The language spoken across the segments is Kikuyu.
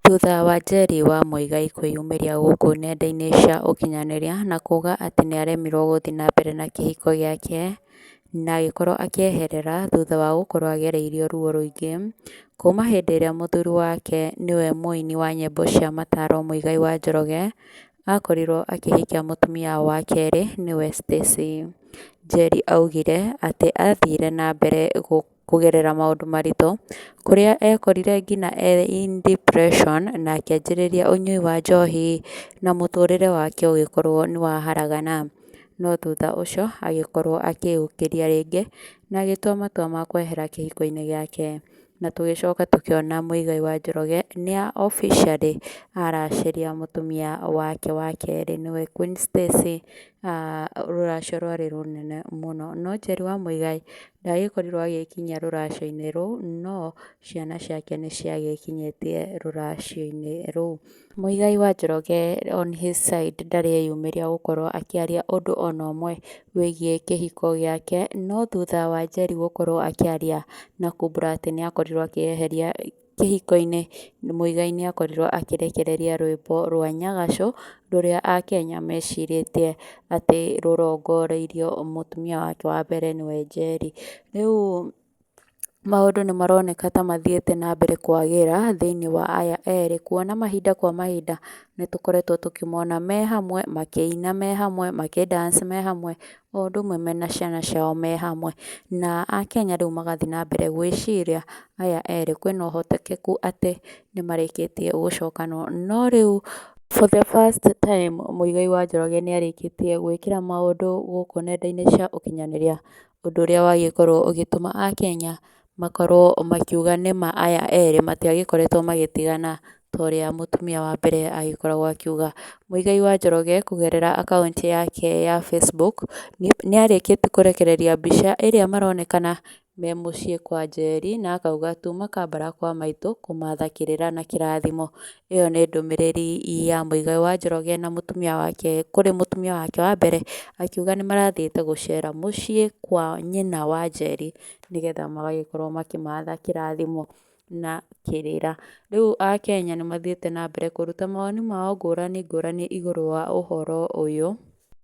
Thutha wa Njeri wa Muigai kwĩyumĩria gũkũ nenda-inĩ cia ũkinyanĩria na kuuga atĩ nĩ aremirwo gũthiĩ na mbere na kĩhiko gĩake na agĩkorwo akĩeherera thutha wa gũkorwo agereire ruo rũingĩ, kuuma hĩndĩ ĩrĩa mũthuri wake nĩwe mũini wa nyĩmbo cia mataro Muigai wa Njoroge akorirwo akĩhikia mũtumia wa kerĩ nĩwe Stacey. Njeri augire atĩ athire na mbere gũ... kũgerera maũndũ maritũ, kũrĩa ekorire nginya e in depression na akĩanjĩrĩria ũnyui wa njohi, na mũtũrĩre wake ũgĩkorwo nĩ wa haragana. No thutha ũcio agĩkorwo akĩyũkĩria rĩngĩ, na agĩtua matua ma kwehera kĩhiko-inĩ gĩake. Na tũgĩcoka tũkĩona Muigai wa Njoroge nĩ a officially aracĩria mũtumia wake wa kerĩ nĩwe Queen Stacy, rũracio rwarĩ rũnene mũno. No Njeri wa Muigai Ndagĩkorirwo agĩkinyia rũracio-inĩ rũu, no ciana ciake nĩ ciagĩkinyĩtie rũracio-inĩ rũu. Muigai wa Njoroge on his side ndarĩ eyumĩria gũkorwo akĩaria ũndũ ona ũmwe wĩgiĩ kĩhiko gĩake, no thutha wa Njeri gũkorwo akĩaria na Kubura atĩ nĩ akorirwo akĩeheria Kĩhiko-inĩ, Muigai nĩ akorirũo akĩrekereria rwĩmbo rwa Nyagaco rũrĩa Akenya mecirĩtie atĩ rũrongoreirio mũtumia wake wa mbere nĩwe Njeri. Rĩu maũndũ nĩ maroneka ta mathiĩte na mbere kwagĩra thĩinĩ wa aya erĩ kuona mahinda kwa mahinda nĩ tũkoretwo tũkĩmona me hamwe makĩina me hamwe makĩ dance me hamwe o ũndũ ũmwe mena ciana ciao me hamwe, na akenya rĩu magathiĩ na mbere gwĩciria aya erĩ kwĩna ũhotekeku atĩ nĩ marĩkĩtie gũcokanwo, no rĩu for the first time Mũigai wa Njoroge nĩ arĩkĩtie gwĩkĩra maũndũ gũkũ nenda-inĩ cia ũkinyanĩria, ũndũ ũrĩa wagĩkorwo ũgĩtũma akenya makorwo makiuga nĩma aya erĩ matiagĩkoretwo magĩtigana ta ũrĩa mũtumia wa mbere agĩkoragwo akiuga. Mũigai wa Njoroge kũgerera akaunti yake ya Facebook, nĩ arĩkĩtie kũrekereria mbica ĩrĩa maronekana me mũciĩ kwa Njeri na akauga tuma kambara kwa maitũ kũmatha kĩrĩra na kĩrathimo. Ĩyo nĩ ndũmĩrĩri ya Mũigai wa Njoroge na mũtumia wake kũrĩ mũtumia wake wa mbere, akiuga nĩ marathiĩte gũcera mũciĩ kwa nyina wa Njeri. nĩgetha magagĩkorwo makĩmatha kĩrathimo na kĩrĩra. Rĩu Akenya nĩ mathiĩte na mbere kũruta mawoni mao ngũrani ngũrani igũrũ wa ũhoro ũyũ.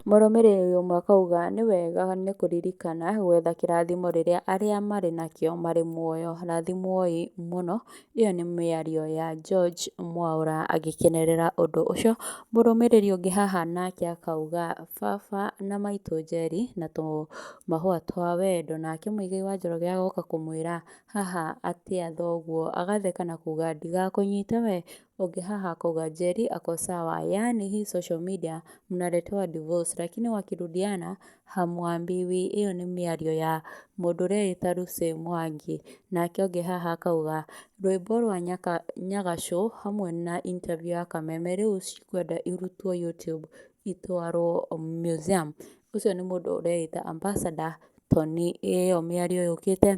Mũrũmĩrĩri ũmwe akauga nĩ wega nĩ kũririkana gwetha kĩrathimo rĩrĩa arĩa marĩ nakĩo marĩ muoyo. Rathimwoi mũno Ĩyo nĩ mĩario ya George Mwaũra agĩkenerera ũndũ ũcio, mũrũmĩrĩri ũngĩ haha nake akauga baba na maitũ Njeri na tũmahũa twa wendo, nake Mũigai wa Njoroge agoka kũmwĩra haha atĩa thoguo, agatheka na kuga ndigakũnyite we, ũngĩ haha akauga Njeri ako sawa, yaani hii social media mnaletewa divorce lakini wakirudiana Ha Mwambi, Wĩ, ĩyo nĩ mĩario ya mũndũ ũreĩta Lucy Mwangi, nake ũngĩ haha akauga, Rwĩmbo rwa Nyaka, Nyagacũ hamwe na interview ya Kameme rĩu cikwenda irutwo YouTube itwarwo museum. Ũcio nĩ mũndũ ũreĩta Ambassador Tony. Ĩyo mĩario yũkĩte,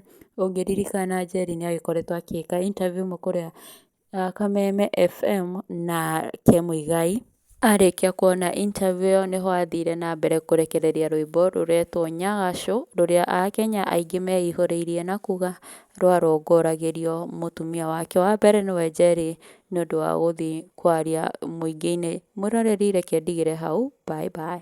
ũngĩririkana Njeri nĩagĩkoretwo agĩka interview ĩmwe kũrĩa Kameme FM na Kĩmuigai. Arĩkia kuona interview ĩyo nĩho athire na mbere kũrekereria rwĩmbo rũretwo Nyagacũ rũrĩa akenya aingĩ meihũrĩirie na kuga rwarũngũragĩrio mũtumia wake wa mbere nĩwe Njeri nĩ ũndũ wa gũthiĩ kwaria mũingĩ-inĩ. Mwĩroreri reke ndigĩre hau bye bye.